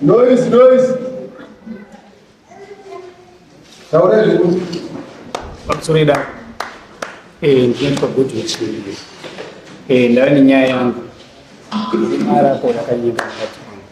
Noise, noise. Taura zvedu. Pamusoro edare. Eh, ndinoitwa good witness. Eh, ndava nenyaya yangu. Mara ko yakanyika.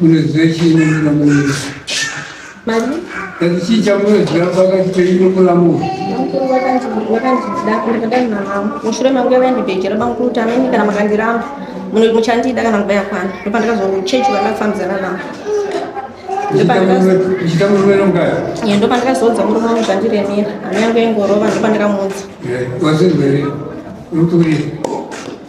Munoziva chii nemuna munoita? Mari? Kati chii chamunoziva pakati penyu nemuna munhu? mushure mangu yava yandibhejera bangu kuti ameni kana makandiramba muchandida kana nguva yakwana ndopandakazochechi vandakufambidzana navo uchita murume nomukadzi ye ndopandakazoudza murume wangu zvandiremera hana yangu yengorova ndopandakamuudza wasinzwere unotuurira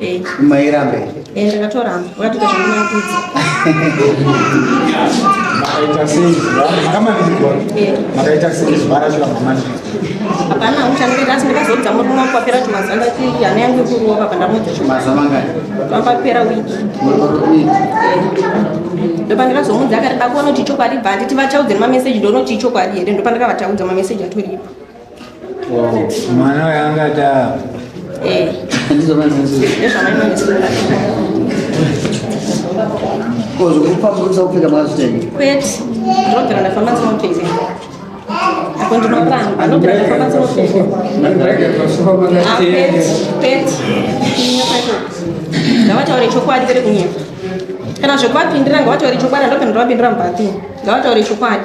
Eh. Mairamba here? Eh, ndakatoramba. Wakatoita zvamunakudza. Makaita sei? Kama nilikuwa. Eh. Makaita sei? Bara shula mama. Hapana, uchanipenda asi ndikazodza murume wangu papera chimazana chii hana yangu ikuruwa papa ndamudza chimazana ngani? Papera wiki. Wiki. ndopa ndikazomuudza akati dakuona kuti ichokwadi bva handiti vachaudze nemameseji ndoona kuti ichokwadi here ndopa ndakavataudza mameseji atoripo mwana uyo angataa eh. kozvokupambusa kupfeka mazvitengi kwete ndinogara ndafamba ndinopfeka apo ndinopamba ndogara ndafamba ndinopfekapete ngavataure chokwadi kere kunyepa kana zvekuvapindira ngavataure chokwadi andopindira vapindira mubathini ngavataure chokwadi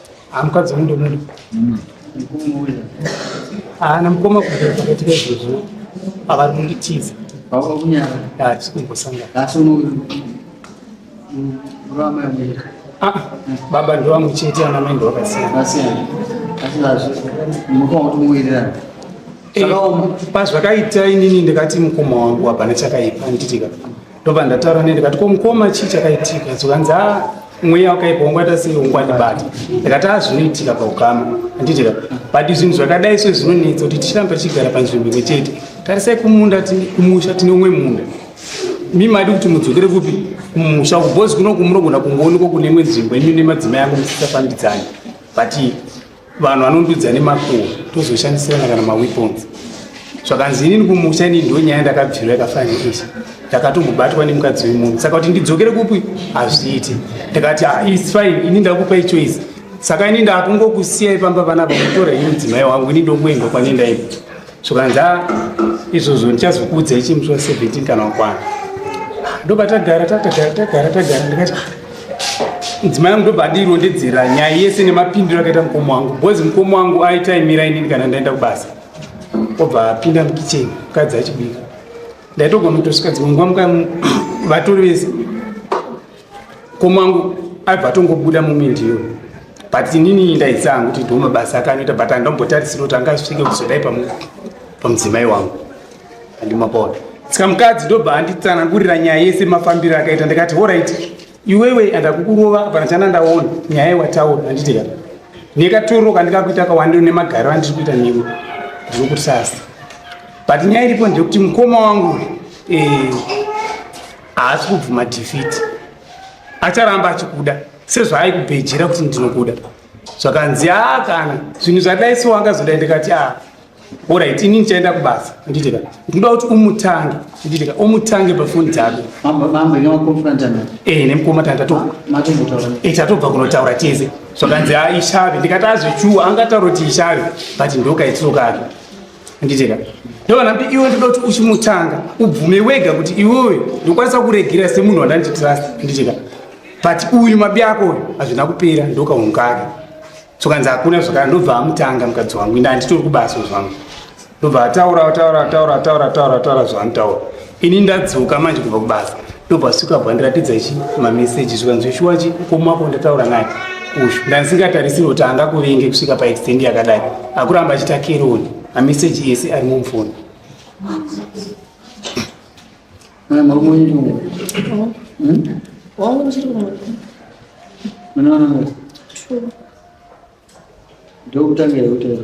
Amukadzi wangu ndomuda. Mm. Haana mukoma kubvira pakati pezvozvo pavari kunditiza. Baba kunyara. Ah, tikumbosanga. Asi uno rama yamira. Ah, baba ndo wangu chete ana mai ndo wakasiyana. Vakasiyana. Asi lazvo mukoma kuti muwirirana. Eh, pazvakaita inini ndikati mukoma wangu hapana chakaipa nditika ndobva ndataura ne ndikati ko mukoma chii chakaitika zvikanzi a ah, mweya wakaipa wangwaita sei ungwandibata ndikati a ah, zvinoitika paukama anditika but zvinhu zvakadai so zvinonetsa kuti tichirambe tichigara panzvimbo imwe chete tarisai kumunda kumusha tine umwe munda mi maidi kuti mudzokere kupi kumusha kubhozi kunoku munogona kungoonekwa kune imwe nzvimbo imi nemadzimai angu musisafambidzani but vanhu vanondudza nemakuwo tozoshandisirana kana maweapons zvakanzi inini kumusha inini ndo nyaya ndakabvirwa yakafanira izvi ndakatombobatwa nemukadzi wemunhu saka kuti ndidzokere kupi hazviiti ndikati ah, is fine ini ndakupai choice saka ini ndakungokusiyai pamba panapa mutora ini mudzimai wangu ini ndokuenda kwanendaii zvikanza izvozvo ndichazokuudzai chimuswa 17 kana wakwana ndobva tagara tatagara tagara tagara ndikati mudzimai yangu ndobva andirondedzera nyaya yese nemapindiro akaita mukomo wangu bcoz mukomo wangu aitaimira inini kana ndaenda kubasa obva apinda mukicheni mukadzi achibika ndaitogona kutosvika dzimwe nguva muka vatori vese komangu aibva atongobuda mumindiyo but inini ndaitsangu kuti ndo mabasa akanoita but andambotarisira kuti angasvike kuzodai pamudzimai wangu andimapona saka mukadzi ndobva anditsanangurira nyaya yese mafambiro akaita ndikati orit iwewe andakukurova pana chana ndaona nyaya yewataura anditi ka nekatoro kandikakuita kawandi nemagariro andiri kuita newe ndiri kuti sasa but nyaya iripo ndeyekuti mukoma wangu eh, haasi kubvuma defeat acharamba achikuda sezvaaikubhejera kuti ndinokuda zvakanzi aa kana zvinhu zvadai so wangazoda ndikati a orit ini ndichaenda kubasa nditika ndinoda kuti umutange nditika umutange pafoni dzako eh, nemukoma tatobva kunotaura tese zvakanzi a ishave ndikati azvechuwa angataura kuti ishave but ndokaitirokake handiteka ndovana kuti iwe ndoda kuti uchimutanga ubvume wega kuti iwewe ndokwanisa kuregera semunhu wandanditrust handiteka but uyu mabi ako uyu hazvina kupera ndokaungake sokanzi hakuna zvakara ndobva amutanga mukadzi wangu inde handitori kubasa zvangu ndobva ataura ataura ataura ataura ataura ataura zvaanotaura ini ndadzoka manje kubva kubasa ndobva suka bva ndiratidza chi mameseji zvikanzi shuwachi komako ndataura naye uyu ndandisingatarisiri kuti angakuvinge kusvika paextend yakadai akuramba achita keroni mameseji ese ari mumfoni ndokutangira kutaura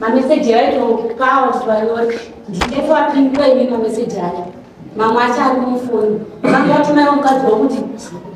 mameseji aitokawa zvivanyori ndindeso apindura imi mameseji aya mamwe acho ari mufoni vange vatumaiwa mukadzi wakuti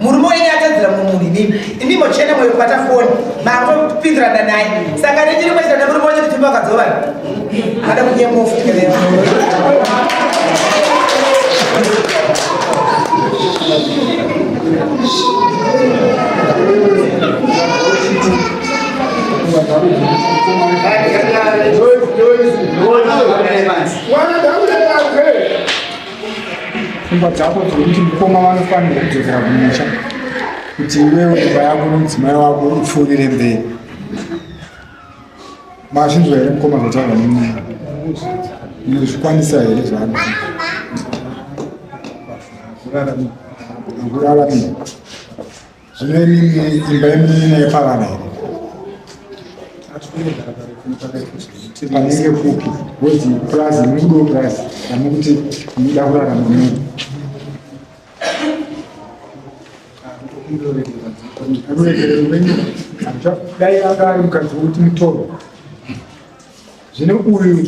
murume wenyu atadzira mumuri nini imi mochena moyo kubata foni makopindirana naye saka nechiri mochita nemurume wenyu kuti makadzovana ada kunyemofutikaleyo One of them. pfungwa dzako dzekuti mukoma vanofanirwa kudzokera kumusha kuti iwewo imba yako nomudzimai wako upfuurire mberi mazvinzwa here mukoma zvataura nemwana inozvikwanisa here zvaano akurara mii Zvine mimi imba yemina yepavana here? Panenge kupi? Woti purazi, muri kudo purazi, kana kuti munoda kurara mamuri? Anoregerera muvengi, dai anga ari mukadzi wokuti mutoro. Zvine uyu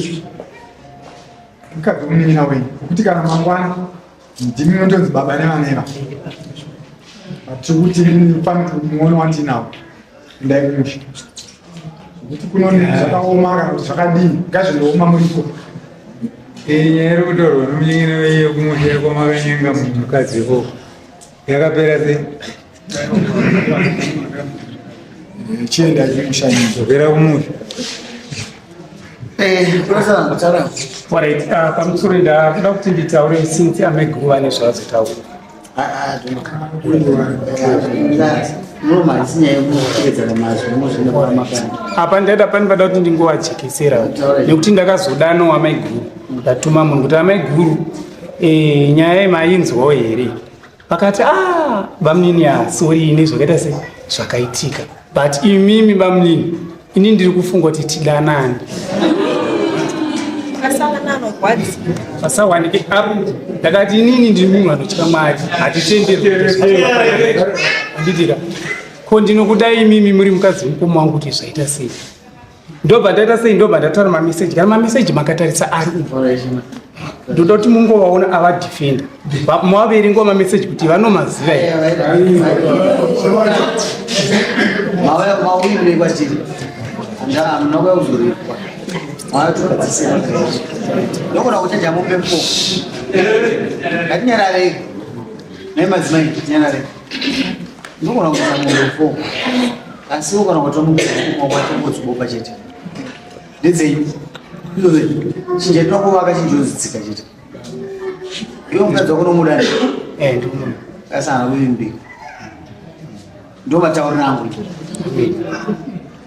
mukadzi womunina wenyu, wokuti kana mangwana ndimi unotonzi baba nevanera but tikuti pane muono wandinawo ndai kumusha kuti kunone zvakaoma kana kuti zvakadii ngazvindooma muriko inyaya iri kutorwa nomunyengene veiyo kumusha kwamakanyenga mukadzi ikoko Yakapera sei? Chienda chikushanyi. Zvokera kumusha. Eh, pamusoro ndakuda kuti nditaure since ame guva nezvaazotaura apa ndaida pani pada kuti ndingovajekesera nekuti ndakazodanawo amai guru ndatuma munhu kuti amai guru Eh, nyaya iyi mainzwawo here vakati ah bamnini asori ine zvakaita se zvakaitika but imimi bamnini ini ndiri kufunga kuti tidanani pasawanike apo ndakati inini ndiri munhu anotya mwari hatitenderanditira ko ndinokuda imimi muri mukadzi mukoma wangu kuti zvaita sei ndobva ndaita sei ndobva ndatara mameseji kana mameseji makatarisa ari ndoda kuti mungovaona avadefenda mavaverengawo mameseji kuti vanomaziva ndokuda kuchaja mupepo ngatinyararei nemadzimai tinyararei ndogona kuisa mombe four asi ugona kutora mukuoma kwacho ngodziboba chete ndedzei ndove chinja tinokuvaka chinjozitsika chete iwe mukadzi wako nomuda ne eh, asi hana kuvimbika ndo matauriro angu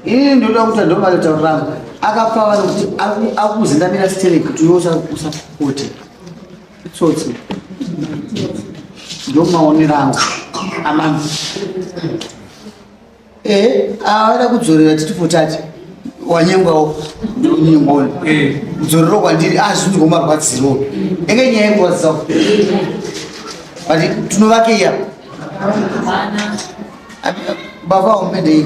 ini ndoda kuti ndo matauriro angu akapfava nokuti akuzendamira stereki kuti iwe usapote Tsotsi. Ndio maonero angu. Amami. Eh, awada kudzorera titi potati. Wanyengwawo. Nyengoni. Eh. Kudzorera kwandiri azvinzi ah, ngomarwadziro. Enge nyaya yekurwadzisa. But tunovake iya. Baba umedei.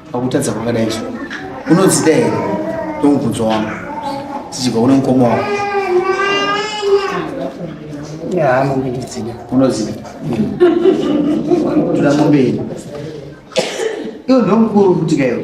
Pakutadza kwakadai izvo unodzida here ndongubvunzo wangu tichibva kune mukoma wako yaanondidzida unodzida toda mombe yedu iwo ndomukuru kutika iwo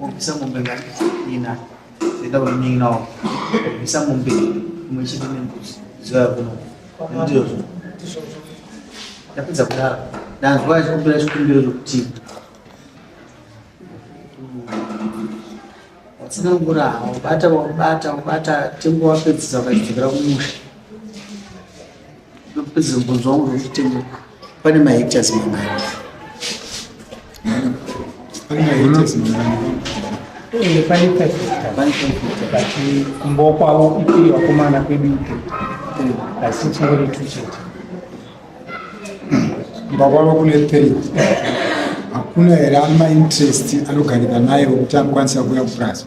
Obisa mombe ngani ina zenda uningi nawo obisa mombe imwe chete nembuzi zuva yakuno ndizvozvo ndapedza kudaro ndanzwa achikumbira chikumbiro chokuti watsanangura waubata waubata waubata tengo wapedzisa ukachidzokera kumusha Zimubvunzo wangu zvekuti pane mahectares mangani? Pane mahectares mangani? Eh, pane five hectares. Kumbo kwavo ikiri vakomana kwedu ikiri. Asi chingori two chete. Kumba kwavo kune three. Hakuna here ama interest anogarika naye wekuti anokwanisa kuuya kupurazi?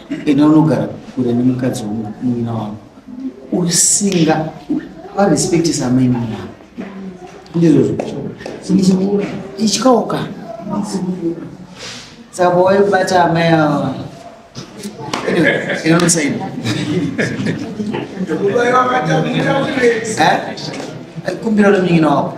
enda unogara kure nemukadzi wemunin'ina wako usinga varespektisa amainini wako ndizvozvo ityauka saka pawaibata amai ava inosaini kumbira nemunin'ina wako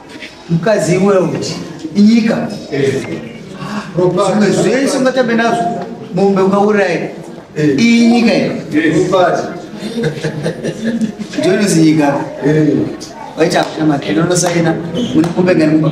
mukadzi iwe uti inyika zvimwe zvese ungatambe nazvo mombe ungauraya iyi nyika jones nyika waita hakuna makena unosaina mune mombe ngani mumba